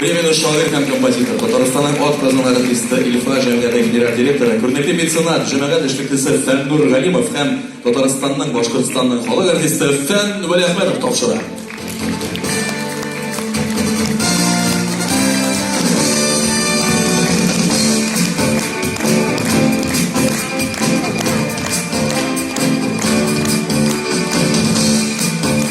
Премияне шагыйрь һәм композитор, Татарстанның атказанган артисты, Илфа җәмгыяте генераль директоры, күренекле меценат, җәмәгать эшлеклесе Фәннур Галимов һәм Татарстанның, Башкортстанның халык артисты Фән Вәлиәхмәтов тапшыра.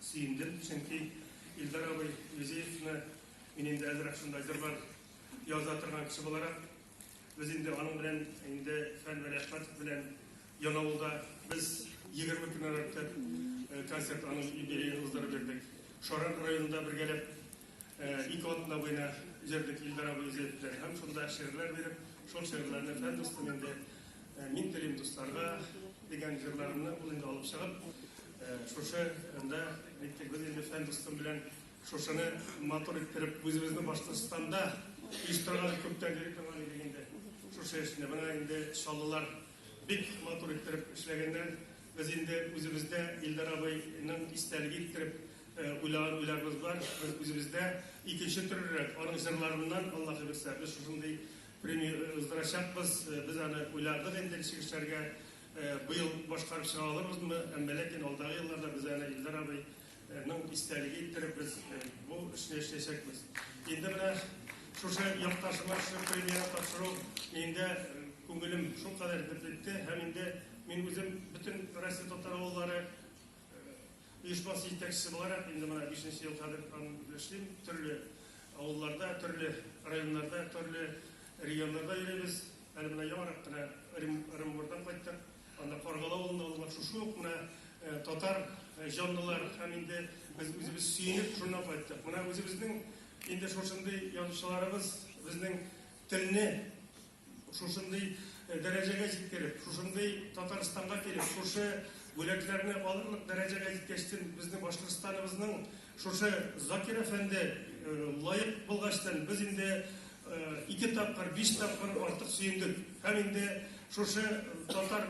Сөендем, чөнки Илдар абый Юзеевны мин инде әзрәк шундай җырлар яза торган кеше буларак, без инде аның белән инде Фән Вәлиәхмәтов белән Янаулда без 20 көннән артык э, концерт аның юбилеен уздырып бирдек. Шаран районында бергәләп э, ике атна буена җырдык Илдар абый Юзеев белән һәм шунда шигырьләр биреп, шул шигырьләрне Фән дустым инде э, мин телим дусларга дигән җырларымны ул инде алып чыгып Шушы анда бит без инде фән дустым белән шушыны матур иттереп үзебезнең Башкортстанда оештырган күптән йөри торган идек инде. Шушы эшне менә инде чаллылар бик матур иттереп эшләгәннәр. Без инде үзебездә Илдар абыйның истәлеге иттереп уйлаган уйларыбыз бар. Без үзебездә икенче төрерәк аның җырларыннан Аллаһ бирсә без шушындый премия уздырачакбыз. Без аны уйладык инде чыгышларга. Быел башкарып чыга алырбызмы, әмма ләкин алдагы елларда без әнә Илдар абый ның истәлеге иттереп без бу эшне эшләячәкбез. Инде менә шушы якташыма шушы премияне тапшыру миндә күңелем шулкадәр бөтетте һәм инде мин үзем бөтен Россия татар авыллары Оешмасы җитәкчесе буларак, инде менә бишенче ел хәзер аны эшлим. Төрле авылларда, төрле районнарда, төрле регионнарда йөрибез. Әле менә яңарак кына Оренбурдан кайттык. Анда Каргалы авылында ул шушы ук менә э, татар э, җанлылар һәм инде без үзебез сөенеп шуннан кайттык. Менә үзебезнең инде шушындый язучыларыбыз безнең телне Шушындый дәрәҗәгә җиткереп, шушындый Татарстанга килеп, шушы бүләкләрне алырлык дәрәҗәгә җиткәчтен, безнең Башкортстаныбызның шушы Закир әфәнде лаек булгачтын, без инде ике тапкыр, биш тапкыр артык сөендек. Һәм инде шушы татар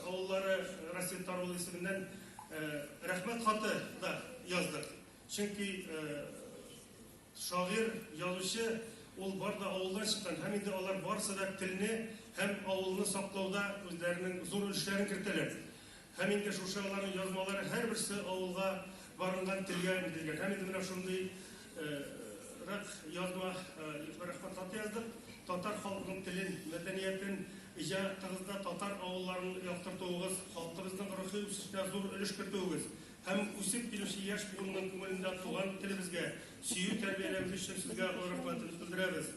авыллары Расет Тарулы исеменнән рәхмәт хаты да яздык. Чөнки Шагыйрь, язучы, ул бар да авылдан чыккан һәм инде алар барысы да телне һәм авылны саклауда үзләренең зур өлешләрен кертәләр. Һәм инде шушы аларның язмалары һәрберсе авылга барынган телгә үтелгән. Һәм инде менә шундый рәк язма Илфар Әхмәт хаты яздык. Татар халкының телен, мәдәниятен, иҗатыгызда татар авылларын яктыртуыгыз, халкыбызның рухи үсешенә зур өлеш кертүегез, Һәм үсеп килүче яшь буынның күңелендә туган телебезгә сөю тәрбияләү өчен сезгә олы рәхмәтебез белдерәбез.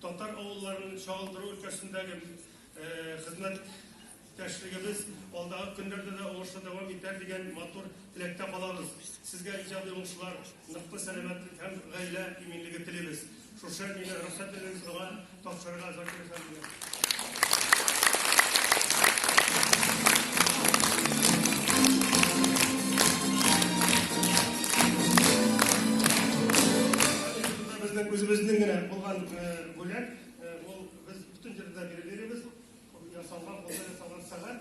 Татар авылларын чагылдыру өлкәсендәге хезмәт Тәшлегебез алдагы көннәрдә дә уңышлы дәвам итәр дигән матур теләктә калабыз. Сезгә иҗади уңышлар, ныклы сәламәтлек һәм гаилә иминлеге телибез. Шушы мине рөхсәт итүен шуга тапшырырга Закир Үзебезнең генә булган бүләк, ул без бөтен җирдә биребез, ясалган, кулдан ясалган сәгать.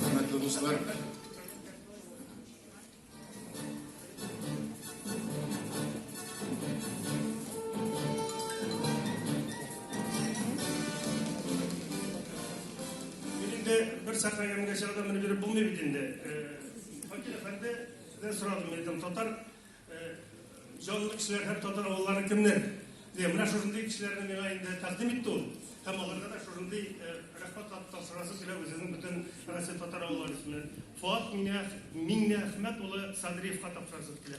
Хөрмәтле дуслар! Мин инде бер сәхнә ямьгә чыгарда менеп йөреп булмый бит инде. Факил әфәнде, сездән сорадым, мин әйтәм, татар Җанлы кешеләр һәм татар авыллары кемнәр? Дигән менә шушындый кешеләрне миңа инде тәкъдим итте ул. Һәм аларга да шушындый э, рәхмәт тапшырасы килә үзенең бөтен Россия татар авыллары исеменнән. Фуат Миңнәхмәт улы Садриевка тапшырасы килә.